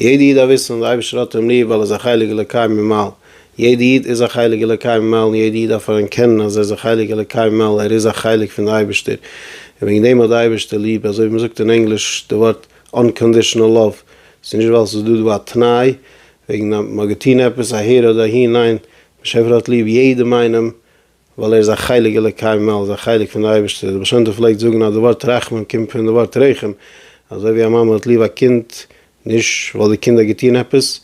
יעדע איד דארף וויסן אז די אייבערשטער האט אים ליב ווייל ער איז א חלק אלוקי ממעל, יעדע איד איז א חלק אלוקי ממעל און יעדע איד דארף אנערקענען אז ער איז א חלק אלוקי ממעל, ער איז א חלק פון די אייבערשטער און וועגן דעם האט די אייבערשטער ליב, אזוי ווי מען זאגט אין ענגליש די ווארט אנקאנדישענעל לאוו, ס'איז נישט ווייל ס'איז דא דא א תנאי וועגן אז מען האט געטון עפעס אהער אדער אהין, ניין, באשעפער האט ליב יעדעם איינעם ווייל ער איז א חלק אלוקי מעל, איז א חלק פון די אייבערשטער, די בעל שם טוב פלעגט זאגן אז די ווארט רחמן קומט פון די ווארט רחם, אזוי ווי א מאמע האט ליב א קינד נישט ווייל די קינד האט געטון עפעס,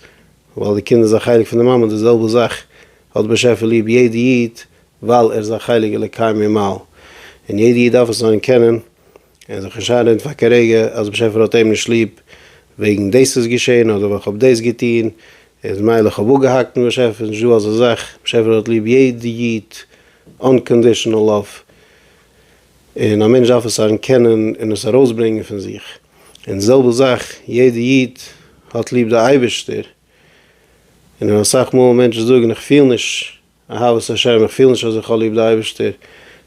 ווייל די קינד איז א חלק פון די מאמע, די זעלבע זאך האט די באשעפער ליב יעדע איד ווייל ער איז א חלק אלוקי ממעל, און יעדע איד דארף עס זיין קענען. און זיך נישט איינרעדן פאר קיין רגע אז באשעפער האט אים נישט ליב וועגן דאס איז געשען אדער ווייל כ'האב דאס געטון איז מילא כ'האב אפגעהאקט מיט באשעפער איז נישטא אזא זאך באשעפער האט ליב יעדע איד אנקאנדישענעל לאוו און א מענטש דארף עס אנערקענען און עס ארויסברענגען פון זיך און די זעלבע זאך יעדע איד האט ליב די אייבערשטער און אסאך מאל מענטשן זאגן איך פיל נישט אהבת השם, איך פיל נישט אז איך האב ליב די אייבערשטער,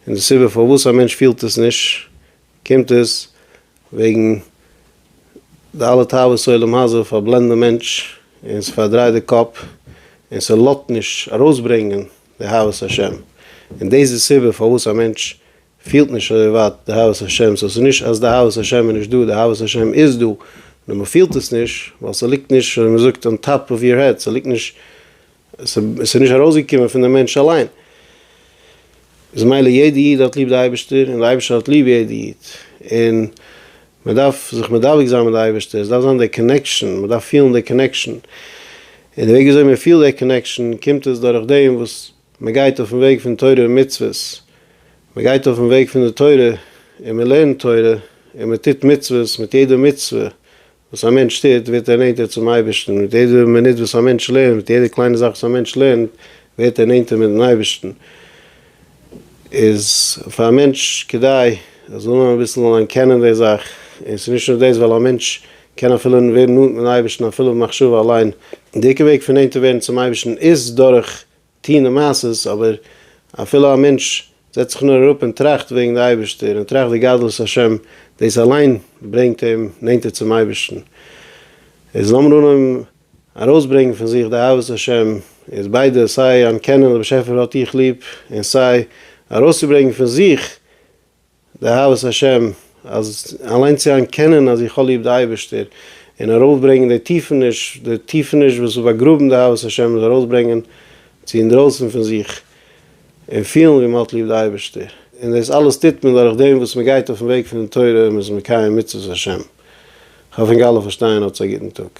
און די סיבה פארוואס א מענטש פילט עס נישט, קומט עס וועגן די אלע תאוות עולם הזה פארבלענדן די מענטש, און ס'פארדרייט די קאפ, און ס'לאזט נישט ארויסברענגען די אהבת השם, און דאס די סיבה פארוואס א מענטש פילט נישט אזוי ווייט די אהבת השם, סאו ס'איז נישט אז די אהבת השם איז נישט דא, די אהבת השם איז דא, נאר מ'פילט עס נישט, ווייל ס'ליגט נישט, ווי מ'זאגט, אן טאפ אוו יור העד, ס'ליגט נישט עס איז נישט ארויסגעקומען פון דעם מענטש אליין. איז מילא יעדע איד האט ליב די אייבערשטער און די אייבערשטער האט ליב יעדע איד, און מען דארף זיך מדבק זיין מיט די אייבערשטער, עס דארף זיין דער קאנעקשאן, מען דארף פילן דער קאנעקשאן, און די וועג וויאזוי מען פילט דער קאנעקשאן קומט עס דורך דעם וואס מען גייט אויפן וועג פון תורה ומצוות, מען גייט אויפן וועג פון די תורה און מען לערנט תורה און מען טוט מצוות, מיט יעדע מצוה וואס א מענטש טוט ווערט ער נענטער צום אייבערשטן, מיט יעדע מינוט וואס א מענטש לערנט, מיט יעדע קליינע זאך וואס א מענטש לערנט, ווערט ער נענטער מיט'ן אייבערשטן. איז פאר א מענטש כדאי ער זאל נאר אביסל אליין קענען די זאך, און ס'איז נישט נאר דאס, ווייל א מענטש קען אפילו ווערן נאנט מיט'ן אייבערשטן אפילו במחשבה אליין, און די עיקר וועג פון נענטער ווערן צום אייבערשטן איז דורך. טוען די מעשות, אבער אפילו א מענטש זעצט זיך נאר אראפ און טראכט וועגן די אייבערשטער און טראכט די גדלות השם, דאס אליין ברענגט אים נענטער צום אייבערשטן. איז לאמיר אנהויבן ארויסברענגן פון זיך די אהבת השם, איז ביידע סיי אנערקענען אז באשעפער האט דיך ליב און סיי ארויסצוברענגן פון זיך, די אהבת השם, אז אליין צו אנקענען אז איך האב ליב די אייבערשטער, און ארויפברענגען די טיפעניש, די טיפעניש וואס איז באגראבן די אהבת השם איז ארויסברענגען צו אינדרויסן פון זיך, און פילן ווי מען האט ליב די אייבערשטער. און דאס אלעס טוט מען דורך דעם וואס מען גייט אויפן וועג פון די תורה און מען איז מקיים מצוות השם. כ'האף אינגאלע פארשטייען האטס א גוטן טאג.